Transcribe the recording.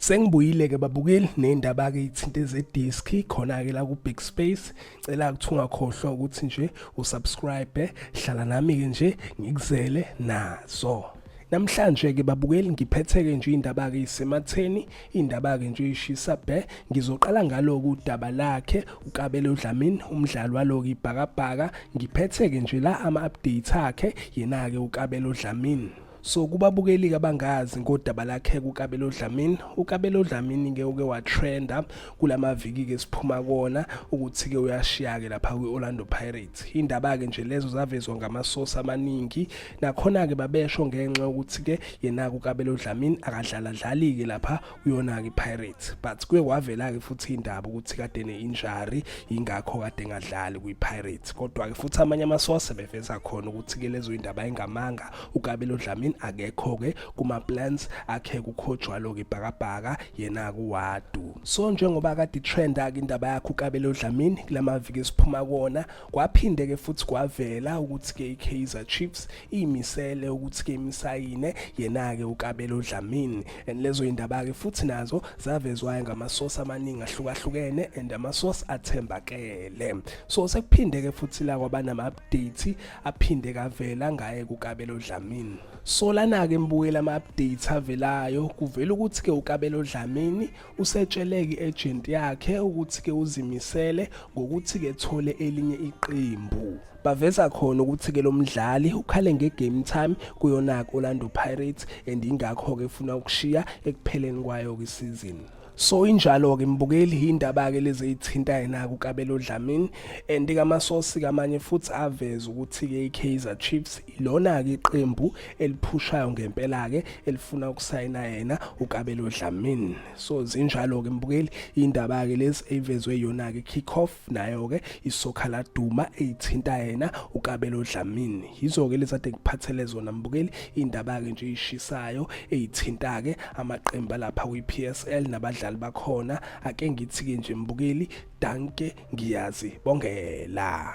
Sengibuyile-ke babukeli ney'ndaba-ke iy'thinte zediski khona-ke la ku-big space cela ukuthi ungakhohlwa ukuthi nje usubscribe hlala nami-ke nje ngikuzele nazo Namhlanje ke babukeli ngiphetheke nje indaba ke isematheni indaba ke nje ishisa bhe ngizoqala ngaloku udaba lakhe uKabelo Dlamini umdlali waloku ibhakabhaka ngiphetheke nje la ama updates akhe yena ke uKabelo Dlamini So kubabukeli-ke abangazi ngodaba lakhe kuKabelo Dlamini, uKabelo Dlamini-ke uke watrenda kula maviki-ke siphuma kona ukuthi-ke uyashiya-ke lapha kwi-Orlando Pirates. Indaba-ke nje lezo zavezwa ngamasosi amaningi, nakhona-ke babesho ngenxa yokuthi-ke yena-ke uKabelo Dlamini akadlaladlali-ke lapha kuyona-ke ipirates but kuye kwavela-ke futhi indaba ukuthi kade ne-injury yingakho kade engadlali kwi-pirates kodwa-ke futhi amanye amasose beveza khona ukuthi-ke lezo indaba ayingamanga ukabelo dlamini akekho-ke kuma-plans akhe kukhojwalo-ke ibhakabhaka yena-ke uwadu so njengoba kade itrenda-ke indaba yakhe ukabelo dlamini kula maviki esiphuma kona Kwaphinde-ke futhi kwavela ukuthi-ke i-Kaizer Chiefs iyimisele ukuthi-ke imsayine yena-ke uKabelo Dlamini and lezo yindaba-ke futhi nazo zavezwayo ngamasosi amaningi ahlukahlukene and amasosi athembakele so sekuphinde-ke futhi la kwabanama-update aphinde kavela ngaye kuKabelo Dlamini so lana-ke mbukela ama-update avelayo kuvela ukuthi-ke uKabelo Dlamini usetshele i-agent yakhe ukuthi ke uzimisele ngokuthi ke thole elinye iqembu baveza khona ukuthi ke lo mdlali ukhale nge-game time kuyona Orlando Pirates and ingakho ke funa ukushiya ekupheleni kwayo kwisizini so injalo-ke mbukeli yindaba-ke lezi eyithintayo naku kabelo dlamini and kamasosi kamanye futhi aveze ukuthi-ke i-kaizer chiefs lona-ke iqembu eliphushayo ngempela-ke elifuna ukusayina yena ukabelo dlamini so zinjalo-ke mbukeli indaba-ke lezi eyivezwe yona-ke kick-off nayo-ke isokha laduma eyithinta yena ukabelo dlamini yizo-ke lezi ade ngiphathele zona mbukeli indaba-ke nje ishisayo eyithinta-ke amaqembu alapha kwi-p s l nabadlali bakhona ake ngithi-ke nje mbukeli danke ngiyazi bongela